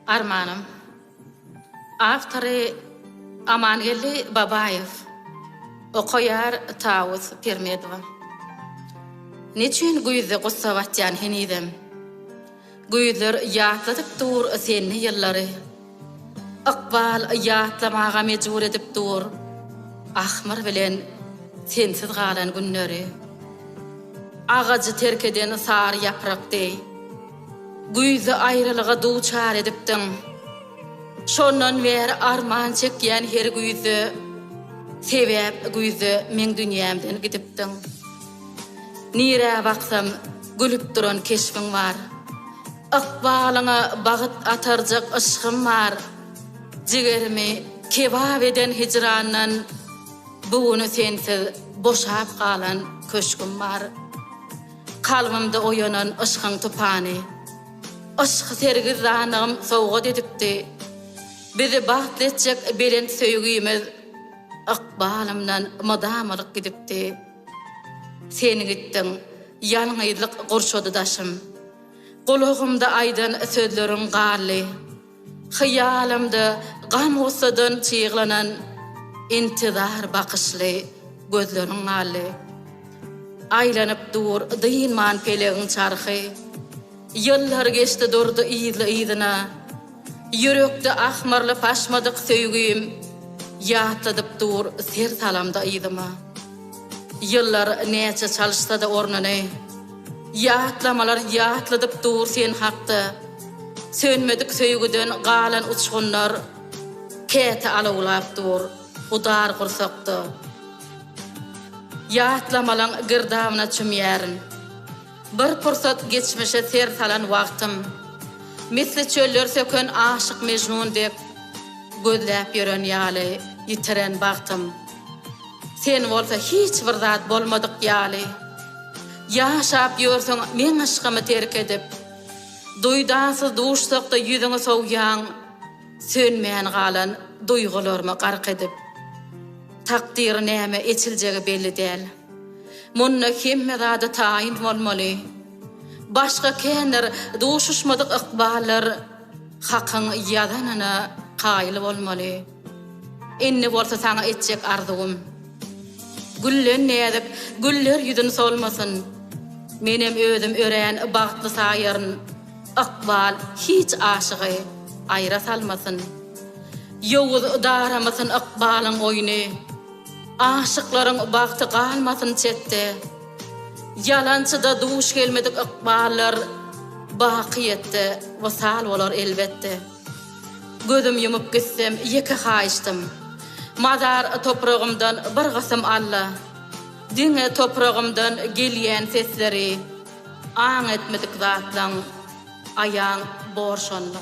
Armanym. Awtory, Amangeldi Babaýew. Okaýar, Tawus Pirmedowa. Neçün güýzde gussa batýan henizem. Güýzler ýatladyp dur senli ýyllary. Ykbal ýatlamaga mejbur edip dur Ahmyr bilen sensiz galan günleri. Agajy terk eden sary ýaprak deý, Güýzi aýralyga duçar edipdiň. Şondan bäri arman çekýän her güýzde, Sebäp güýzde meň dünýämden gidipdiň. Nirä baksam gülüp duran keşbiň bar. Ykbalyňa bagyt atarjak yşgym bar, Jigerimi kebap eden hijrandan, Bu güni sensiz boşap galan köşgüm bar. Kalbymda oýanan yşgyň tupany, Yşk sergizdanygym sowgat edipdi. Bizi bagtly etjek belent söýgimiz, Ykbalymdan mydam alyp gidipdi. Sen gitdiň, ýalňyzlyk gurşady daşym. Gulagymda aýdan sözleriň gally, Hyýalymda gam-gussadan çyglanan, Intizar bakyşly gözleriň gally. Aýlanyp dur dynman pelegiň çarhy, Ýyllar geçdi durdy yzly-yzyna, Ýürekde ahmyrlyp aşmadyk söýgim Ýatladyp dur ser salamda yzyma. Ýyllar näçe çalyşsa-da ornuny, Ýatlamalar ýatladyp dur sen hakda. Sönmedik söýgüden galan uçgunlar Käte alawlap dur bu dar gursakda. Ýatlamalaň girdabyna çümýärin. Bir pursat geçmişe ser salan wagtym, Misli çöller söken aşyk Mejnun dek, Gözläp ýören ýaly ýitiren bagtym. Sen bolsa hiç bir zat bolmadyk ýaly, Ýaşap ýörsüň meň yşkymy terk edip. Duýdansyz duşsak-da ýüzüňi sowýaň, Sönmän galan duýgularymy gark edip. Takdyry näme eçiljegi belli däl. Munda hemme zada taýyn bolmaly. Başga kändir duşuşmadyk ykballar Hakyň ýazanyna kaýyl bolmaly. Indi bolsa saňa etjek arzuwym. Güllen näzik güller ýüzün solmasyn. Menem özüm örän bagtly saýaryn. Ykbal hiç aşygy aýra salmasyn. Ýowuz daramasyn ykbalyň oýny. Aşyklaryň bagty galmasyn çetde, Ýalançyda duş gelmedik ykballar Baky ýetde, wysal bolar elbetde. Gözüm ýumup gitsem ýeke haýyşdym, Mazar topragymdan bir gysym alla, Diňe topragymdan gelýän sesleri Aň etmedik zatlaň aýaň bor şonda.